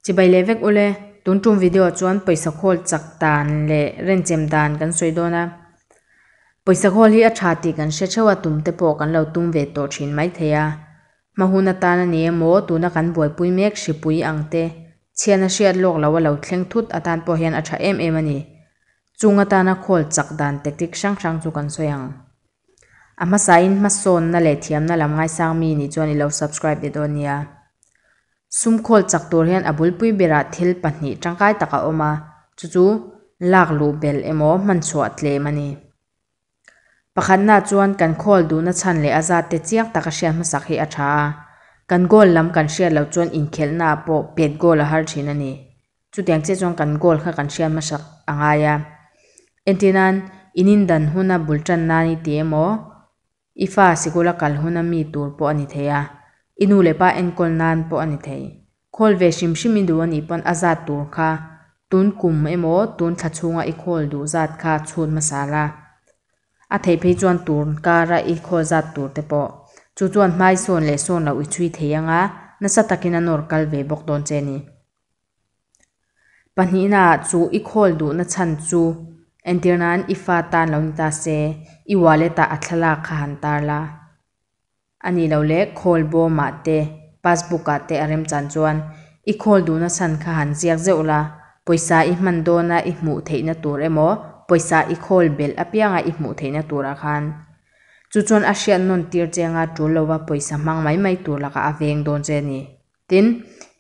Chibai leh vek ule, tun tum video chuan pawisa khawl chak dan leh rent chem dan kan sawi dawn a, pawisa khawl hi a tha tih kan hre theuh a, tum te pawh kan lo tum ve tawh thin mai thei a, hma hun atan a ni emaw tuna kan buaipui mek hripui ang te chhian a hriat lawk lo a lo thleng thut atan pawh hian a tha em em a ni, chung atana khawl chak dan tactic hrang hrang chu kan sawi ang. A hmasa in hmasawn na leh thiam na lam ngai sang mi nih chuan i lo subscribe leh dawn nia. Sum khawl chak tur hian a bul pui ber ah thil pahnih tangkai tak a awm a, chu chu lak luh bel emaw hman chhuah tlem a ni. Pakhat na chuan kan khawl duh na chhan leh a zat te chiang tak a hriat hmasak hi a tha a, kan goal lam kan hriat lo chuan inkhelh na ah pawh pet goal a har thin a ni. Chutiang chiah chuan kan goal kha kan hriat hmasak a ngai a. Entir nan in indan huna bul tan nan i ti emaw, i fa sikul a kal huna mi tur pawh a ni thei a, i nu leh pa enkawl nan pawh a ni thei. Khawl ve hrim hrim i duh a nih pawn a zat tur kha tun kum emaw tun thla chhunga i khawl duh zat kha chhut hmasa la. A theih phei chuan tur nkara i khawl zat tur te pawh chu chuan hmai sawn leh sawn lo i chhui thei anga nasa takin a nawr kal ve bawk dawn che ni. Pahnihna ah chu i call duhna chhan chu entir nan i fa tan lo ni ta se, i wallet ah a thlalak kha han tar la. A nih loh leh call bawm ah te, passbook ah te a rem chan chuan i call duhna chhan kha han ziak zeuh la, pawisa i hman dawn a i hmuh theih na tur emaw, pawisa i call belh apiang a i hmuh theih na tur ah khan, chu chuan a hriat nawn tir cheng a tul lo a pawisa hmang mai mai tur lak ah a veng dawn che a ni. Tin,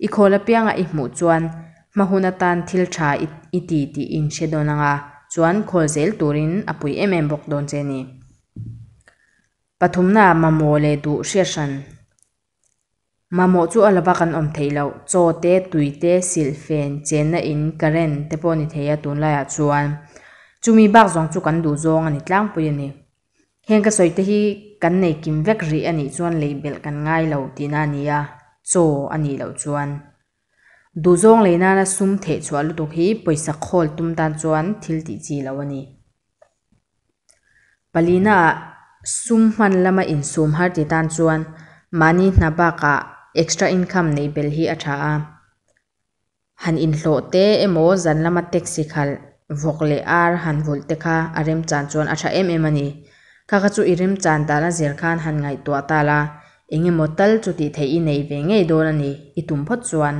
i khawl apianga i hmuh chuan hma hun atan thil tha i ti tih in hre dawn anga chuan khawl zel turin a pui em em bawk dawn che ni. Pathumnaah mamawh leh duh hriat hran. Mamawh chu a lova kan awm theih loh, chaw te, tui te, silh fen, chenna in, current te pawh ni thei a tunlaiah chuan chumi bak zawng chu kan duh zawng a ni tlangpui a ni. Heng ka sawi te hi kan nei kim vek rih a nih chuan lei belh kan ngai lo tihna a ni a, chaw a nih loh chuan. Duhzawng lei nana sum theih chhuah lutuk hi pawisa khawl tum tan chuan thil tih chi lo a ni. Palinaah sum hman lama insum har ti tan chuan mahni hna bakah extra income nei belh hi a tha a. han inhlawh te emaw zan lama taxi khalh vawk leh ar han vulh te kha a remchan chuan a tha em em a ni. Kha kha chu i remchan dan a zer khan han ngaihtuah ta la, eng emaw tal chu tih theih i nei ve ngei dawn a ni. I tum phawt chuan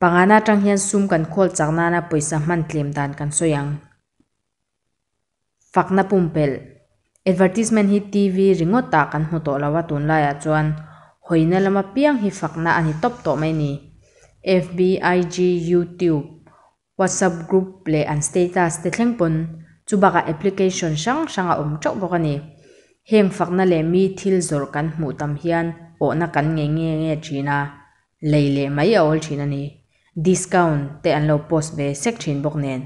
panga na atang hian sum kan khawl chak nana pawisa hman tlem dan kan sawi ang. fakna pumpelh, advertisement hi TV ringawtah kan hmu tawh lo a, tunlaiah chuan hawina lam apiang hi fakna a ni tawp tawh mai ni. FB, IG, YouTube, WhatsApp group leh an status te thleng pawn chu bakah application hrang hrang a awm teuh bawk a ni. Heng fakna leh mi thil zawrh kan hmuh tam hian awhna kan ngei nge nge thin a, lei leh mai a awl thin a ni. Discount te an lo post ve sek thin bawk nen.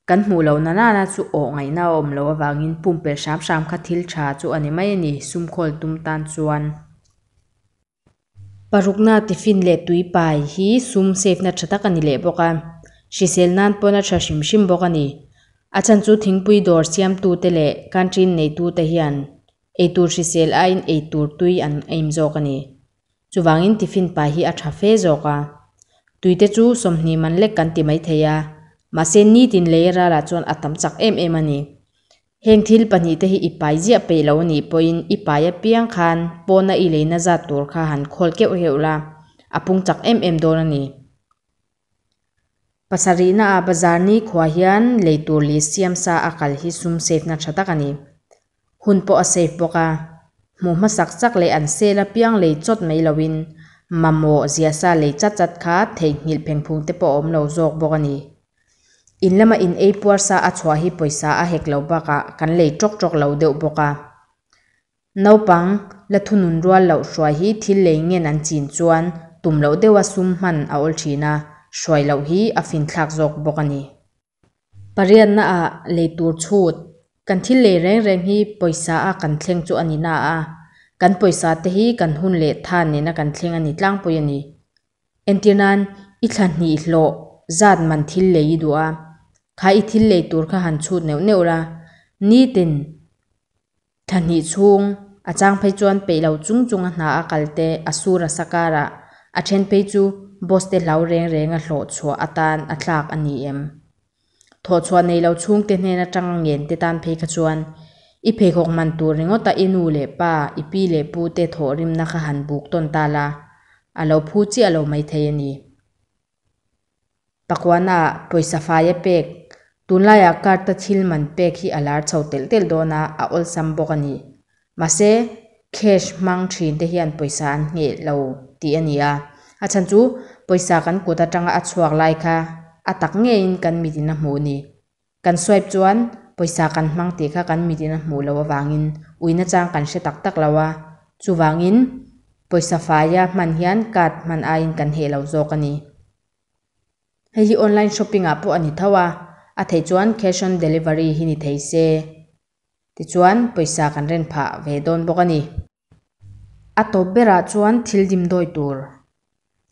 Kan hmuh loh na nana chu aw ngaihna a awm loh avangin pumpelh hram hram kha thil tha chu a ni mai a ni, sumkhawl tum tan chuan. Parukna tiffin leh tuipai hi sum save na tha tak a ni leh bawk a, hrisel nan pawn a tha hrim hrim bawk a ni. A chhan chu thingpui dawr siamtute leh country-in neitute hian eitur hrisel aiin eitur tui an aim zawk a ni. Chuvangin tiffin pai hi a tha fe zawk a. Tuite chu sawmhnih man lek kan ti mai thei a, mahse nitin lei a râlah chuan a tam chak em em a ni. Heng thil pahnih te hi i pai ziah peih lo nih pawhin i pai apiang khan pawna i lei nazat tur kha han khawl keuh heuh la, a pung chak em em dawn a ni. Pasarihna ah bazar nikhua hian lei tur leh siam sa a kal hi sum safe na tha tak a ni. Hun pawh a safe bawk a, hmuh hmasak sak leh an sale apiang lei chawt mai lo in mamawh zia sa lei chat chat kha theihnghilh phengphung te pawh a awm lo zawk bawk a ni. In lama in ei puar sa a chhuah hi pawisa a hek lo bak ah kan lei tawk tawk lo deuh bawk a. Naupang la thunun rual loh hruai hi thil lei ngen an chin chuan tum loh deuha sum hman a awl thin a, hruai loh hi a fin thlak zawk bawk a ni. Pariatna a lei tur chhut, Kan thil lei reng reng hi pawisa a kan thleng chu a ni na a, kan pawisa te hi kan hun leh tha nena kan thleng a ni tlangpui a ni. Entir nan i thla hnih hlawh zat man thil lei i duh a, kha i thil lei tur kha han chhut neuh neuh la, nitin Thahnih chhung a chang phei chuan peih lo chung chung a hna a kal te a sur a sa kar a, a then phei chu boss te hlau reng reng a hlawh chhuah atan a tlak a ni em? Thawh chhuah nei lo chhung te hnen atanga ngen te tan phei kha chuan i pheikhawk hman tur ringawt a i nu leh pa, i pi leh pu te thawh rimna kha han buk tawn ta la, a lo phu chiah lo mai thei a ni. Pakuana ah pawisa fai a pek. Tunlai ah Karta thil man pek hi a lar chho telh telh dawn a, a awlsam bawk a ni. Mahse, cash hmang thin te hian pawisa an ngheh lo tih a ni a. A chhan chu, pawisa kan kut atanga a chhuak lai kha a tak ngeiin kan mitin a hmuh a ni. Kan swipe chuan pawisa kan hmang tih kha kan mit in a hmuh loh avangin uina chang kan hre tak tak lo a, chuvangin pawisa faia hman hian card hman aiin kan heh lo zawk a ni. Hei hi online shopping ah pawh a ni tho a, a theih chuan cash on delivery hi ni thei se tichuan pawisa kan ren phah ve dawn bawk a ni. A tawp berah chuan thil dim dawi tur.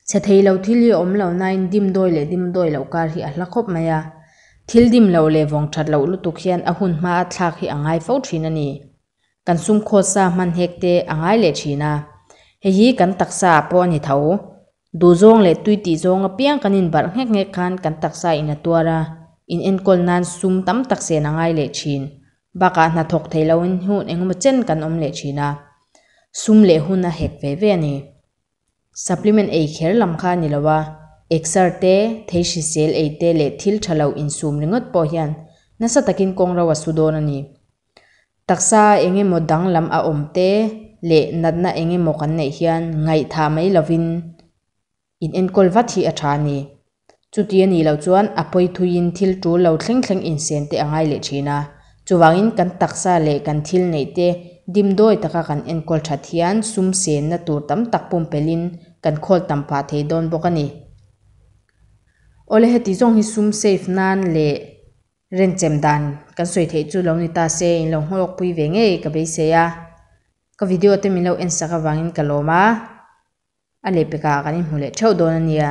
Chhe thei lo thil hi a awm lo nain dim dawi leh dim dawi loh kar hi a hla khawp mai a. Thil dim loh leh vawng that loh lutuk hian a hun hma a thlak hi a ngai fo thin a ni. Kan sumkhawt sa hman hek te a ngai leh thin a. Hei hi kan taksa ah pawh a ni tho. Duhzawng leh tuiti zawng apiang kan inbarh nghek nghek khan kan taksa in a tuar a, in enkawl nan sum tam tak sen a ngai leh thin. Bakah hna thawk thei loin hun engemaw chen kan awm leh thin a, sum leh hun a hek ve ve a ni. Supplement ei kher lam kha a ni lo a, exer te, thei hrisel ei te leh thil tha lo insum ringawt pawh hian nasa takin kawng ro a su dawn a ni. Taksa eng emaw danglam a awm te leh natna eng emaw kan neih hian ngaihthah mai lovin inenkawl vat hi a tha a ni. Chuti a nih loh chuan a pawi thuin thil tul lo thleng thleng insen te a ngai leh thin a. Chuvangin kan taksa leh kan thil neih te dim dawi taka kan enkawl that hian sum senna tur tam tak pumpelhin kan khawl tam pah thei dawn bawk a ni. Awle heti zawng hi sum safe nan leh. Renchem dan kan sawi theih chu lo ni ta se, in lo nghawk pui ve ngei ka beisei a, ka video te min lo en sak avangin ka lawm a, a leh pek ah kan inhmu leh theuh dawn a nia.